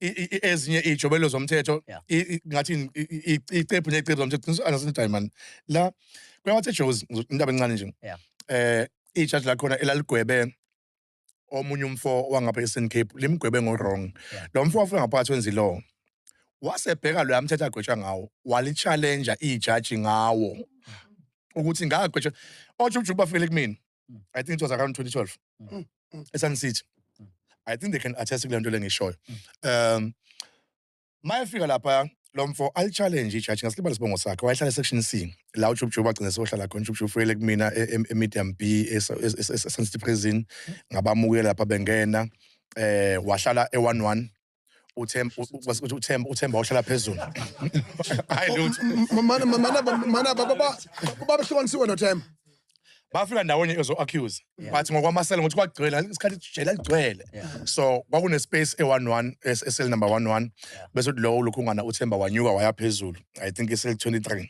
ezinye iy'jobelo zomthetho ngathi icephu ney'cephu zomthetho qiniswa angasindayi mani la kuyawathe ejozi indaba encane nje um ijaji lakhona elaligwebe omunye umfo wangapha e-eastern cape limgwebe ngo-wrong lo mfo wafika ngaphakathi wenza ilowo wasebheka loya mthetho agwetshwa ngawo walitshalenja ijaji ngawo mm-hmm. ukuthi ngagwetshwa ojujuju bafike kumina mm. i think it was around 2012 mm. mm. esun city mm. i think they can attest kule nto lengishoyo mm. um mayefika lapha lo mfo alichallenge ijaji ngasilibala isibongo sakhe wayehlala esection c la ujubjubu bagcine sohlala khona ujubjubu fuyele kumina e, e, emedium b esancity prison ngabamukela lapha bengena eh wahlala e-one one uThemba uThemba uThemba ohlala phezulu hayi lutho mana mana mana baba baba hlukanisiwe noThemba bafika ndawonye ezo-accuse but ngokwamasela ngokuthi kwagcwele isikhathi jela ligcwele so kwakunespace e-one one eseli number one one bese uthi lowo lokhungana uthemba wanyuka waya phezulu i think iseli 23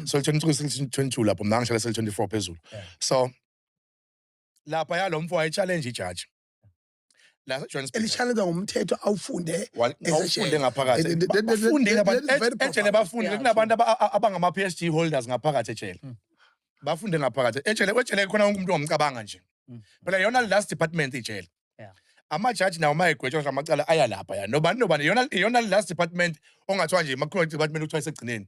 so 23 seli 22 lapho mna ngihlale seli 24 phezulu so lapha yalo mfo waye-challenge ijaji la Johannesburg elishanelwa ngumthetho awufunde Wa- as a awufunde share. ngaphakathi That- that- that- that- bafundile that- abantu that is very ejele profound. bafundile Yeah, kunabantu aba- a- abangama PhD holders ngaphakathi ejele Mm. bafunde ngaphakathi ejele kwejele khona wonke umuntu ongumcabanga nje Mm. phela yona last department ijele Yeah. amajaji nawo mayegwetshwa ngamacala aya lapha ya nobani nobani yona yona last department ongathiwa nje makhona department kuthiwa isegcineni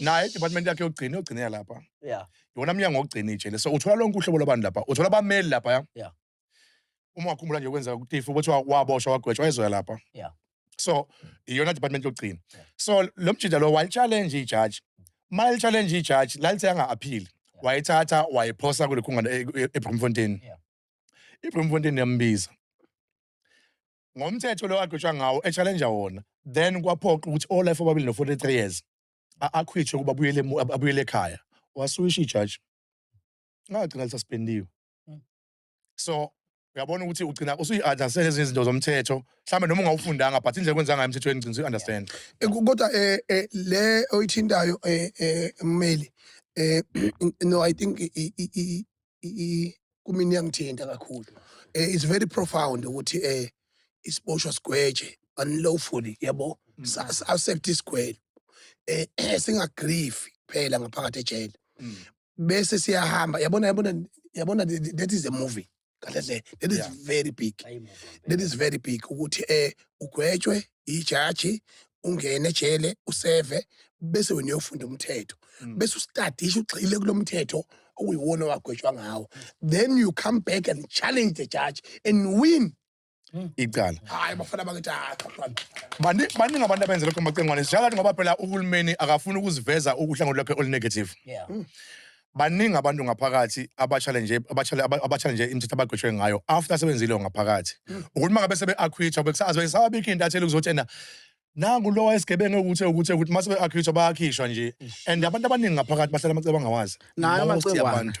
naye idepartment yakhe yokugcina yogcinela lapha yeah yona mnyango wokugcina ijele so uthola lonke uhlobo lwabantu lapha uthola abameli lapha ya Yeah. uma wakhumbula nje kwenzeka kutifu ukuthi wa- waboshwa wagwetshwa ezoya lapha Yeah. so iyona department yokugcina Yeah. so lo mjida lo walichallenge ijaji uma lichallenge ijaji lalithe anga-aphili wayithatha wayiphosa kulikhungana e- e- ebrimfontein Yeah. ibrimfontein yambiza ngomthetho lo agqitshwa ngawo echallenja wona then kwaphoqa ukuthi olife obabili no-43 years akhwitshwe ukuba abuyele ekhaya wasuyisha ijaji ngagcina lisaspendiwe hmm. so uyabona ukuthi ugcina usuyi-understand ezinye izinto zomthetho mhlawumbe noma ungawufundanga but indlela kwenza ngayo emthethweni ngcina uyi-understand eh, kodwa um le oyithintayo um mmeli um no i think kumina iyangithinta kakhulu um it's very profound ukuthi um isiboshwa sigweje unlawfully yabo mm. accept isigwele um eh, singagrifi kuphela ngaphakathi ejele mm. bese siyahamba yabona yabona yabona that is a movie kahle hle that is very big that is very big ukuthi um ugwetshwe ijaji ungene ejele useve bese wena uyofunda umthetho mm. bese usitadisha ugxile kulo mthetho okuyiwona owagwetshwa ngawo then you come back and challenge the judge and win Mm. icala hayi bafana bakithi ah, baningi abantu abenza lokho macengwane sishakathi ngoba phela uhulumeni akafuni ukuziveza ukuhlangothi lwakhe olunegative mm. baningi abantu ngaphakathi abachallenge abachallenge imithetho abagwetshwe ngayo after sebenzile ngaphakathi hmm. ukuthi uma ngabe sebe-acquitwa bekusazi besababikho into athele ukuthi ena nangu lowa esigebengu ukuthi ukuthi ukuthi mase be-acquitwa bayakhishwa nje and abantu abaningi ngaphakathi bahlala amacebo angawazi nayo amacebo abantu